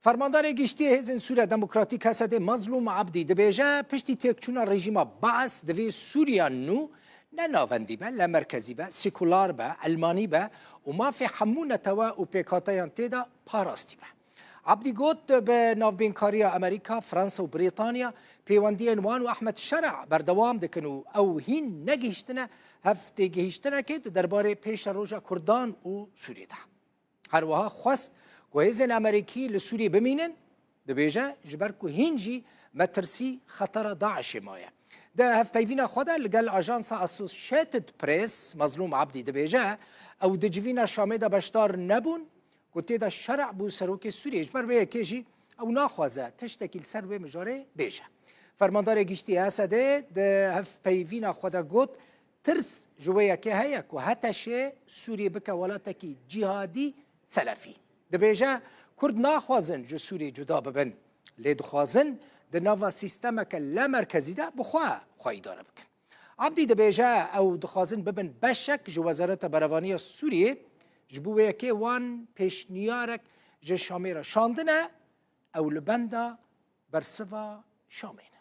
Fermandarê giştî yê Hêzên Sûriya Demokratîk HSD Mazlûm Abdî dibêje piştî têkçûna rejîma Baas divê Sûriya nû ne navendî be, ne merkezî be, sekular be, elmanî be û mafê hemû netewe û pêkhateyan tê de parastî be. Abdî got bi navbênkariya Amerîka, Fransa û Brîtanya pêwendiyên wan û Ahmed Şera berdewam dikin û ew hîn negihîştine hev têgihîştinekê di derbarê pêşeroja Kurdan û Sûriyê de. Herwiha xwest ku hêzên Amerîkî li Sûriyê bimînin, dibêje ji ber ku hîn jî me tirsî xetera DAIŞ'ê maye. Di hevpeyvîna xwe de ligel ajansa Associated Press Mezlûm Abdî dibêje, Ew di civîna Şamê de beşdar nebûn ku tê de şerî bû serokê Sûriyê, ji ber vê yekê jî ew naxwaze tiştekî li ser vê mijarê bêje. Fermandarê Giştî ya Esedê di hevpeyvîna xwe de got, Tirs ji wê yekê heye ku HTŞ Sûriyê bike welatekî cîhadî selefî. Dibêje Kurd naxwazin ji Sûriyê cuda bibin, lê dixwazin di nava sîstemeke lamerkezî de bi xwe xwe îdare bikin. Abdî dibêje ew dixwazin bibin beşek ji Wezareta Berevanî ya Sûriyê, ji bo wê yekê wan pêşniyarek ji Şamê re şandine, ew li benda bersiva Şamê ne.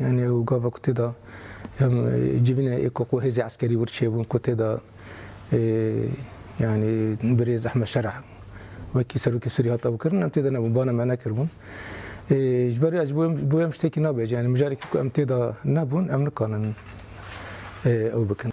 Yanî ew gava ku tê de em civînê êko ku hêzê eskerî wir çêbûn ku tê de yanî birêz Ehmed Şereh wekî Serokê Sûrî hat ewkirin em tê de nebûn bana me nekiribûn. Ji ber ez bi wê em ştekî nabêjim yanî mijarekî ku em tê de nebûn em nikanin ew bikin.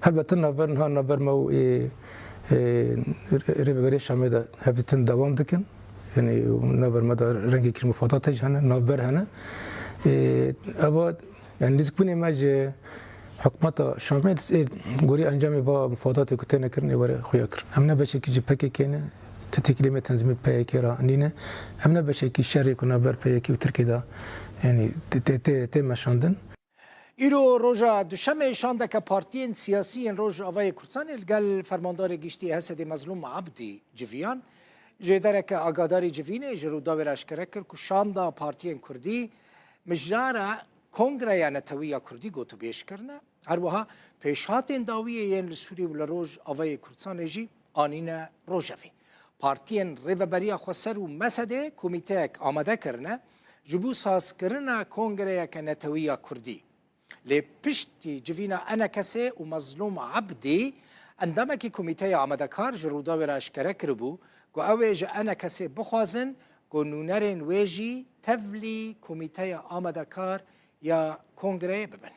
Helbete navber niha navber ma û ê Rêveberiya Şamê de hevdîtin dewam dikin. Yanî navber ma de rengê kir mufadatê jî hene, navber hene. Eva yani nêzîkbûnê me ji hikûmeta Şamê ê gorî encamê va mufadatê ku têne kirin ê were xuya kir. Em ne beşekî ji PKK'ê ne, ti têkiliyê me tenzîmê PYK'ê re nîne. Em ne beşekî şerê ku navber PYK û Tirkiyê de yanî tê meşandin. Îro roja Duşemê şandeke partiyên siyasî yên Rojavayê Kurdistanê li gel Fermandarê Giştî HESEDê Mezlûm Ebdî civiyan. Jêdereke Agadarî Civînê ji Rûdawê re eşkere kir ku şanda partiyên Kurdî mijara Kongreya Netewî ya Kurdî gotûbêj kirine. Her wiha pêşhatên dawiyê yên li Sûrî û li Rojavayê Kurdistanê jî Anîne rojevê partiyên Rêveberiya Xweser û Mesedê komîteyek amade kirine ji bo sazkirina kongreyeke netewî ya Kurdî. Lê piştî civîna Enekesê û Mezlûm Ebdî, endamekî komîteya amadekar ji Rûdawê re eşkere kiribû ku ew ê ji Enekesê bixwazin ku nûnerên wê jî tevlî komîteya amadekar ya kongreyê bibin.